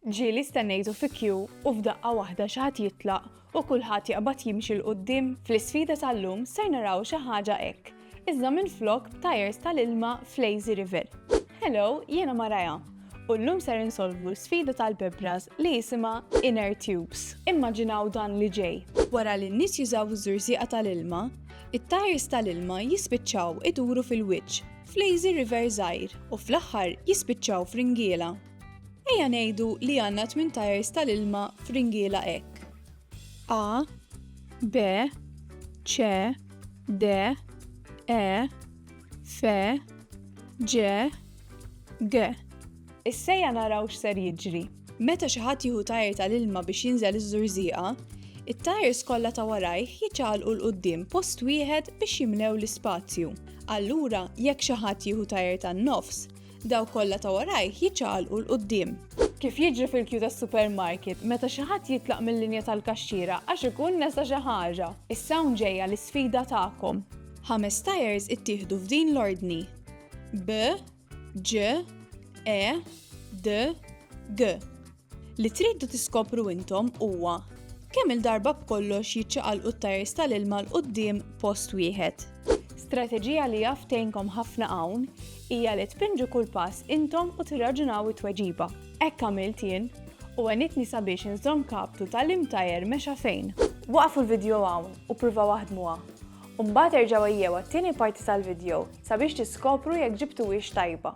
Ġieli stennejtu fi kju u f'daqqa waħda xi ħadd jitlaq u kulħadd jaqbad jimxi 'l quddiem? Fl-isfida tal-lum ser naraw xi ħaġa hekk, iżda minflok b'tajers tal-ilma f'lazy river. Hello, jiena Mariah, u llum ser insolvu l-sfida tal-bebras li jisimha inner tubes. Immaġinaw dan li ġej. Wara li n-nies jużaw iż-żurżieqa tal-ilma, it-tajers tal-ilma jispiċċaw iduru fil-wiċċ f'lazy river żgħir u fl-aħħar jispiċċaw f'ringiela. Ejja ngħidu li għandna tmien tajers tal-ilma f'ringiela hekk. A, B, C, D, E, F, G, G. Issejja naraw x'ser jiġri. Meta xi ħadd jieħu tajer tal-ilma biex jinżel iż-żurżieqa, it-tajers kollha ta' warajh jiċċaqalqu 'l quddiem post wieħed biex jimlew l-ispazju. Allura, jekk xi ħadd jieħu tajer tan-nofs, Dawk kollha ta' warajh jiċċaqalqu 'l quddiem. Kif jiġri fil-kju tas-supermarket meta xi ħadd jitlaq mil-linja tal-kaxxiera għax ikun nesa xi ħaġa. Issa hawn ġejja l-isfida tagħkom. Ħames tires ittieħdu f'din l-ordni, B, Ġ, E, D, G. Li tridu tiskopru intom huwa kemm-il darba b'kollox jiċċaqalqu t-tajers tal-ilma 'l quddiem post wieħed. Strateġija li jaf tgħinkom ħafna hawn hija li tpinġu kull pass intom u tirraġunaw it-tweġiba. Hekk għamilt jien u għenitni sabiex inżomm kaptu ta' liem tajer mexa fejn. Waqqfu l-vidjow hawn u pruvaw aħdmuha, u mbagħad erġgħu ejjew għat-tieni parti tal-vidjow sabiex tiskopru jekk ġibtuhiex tajba.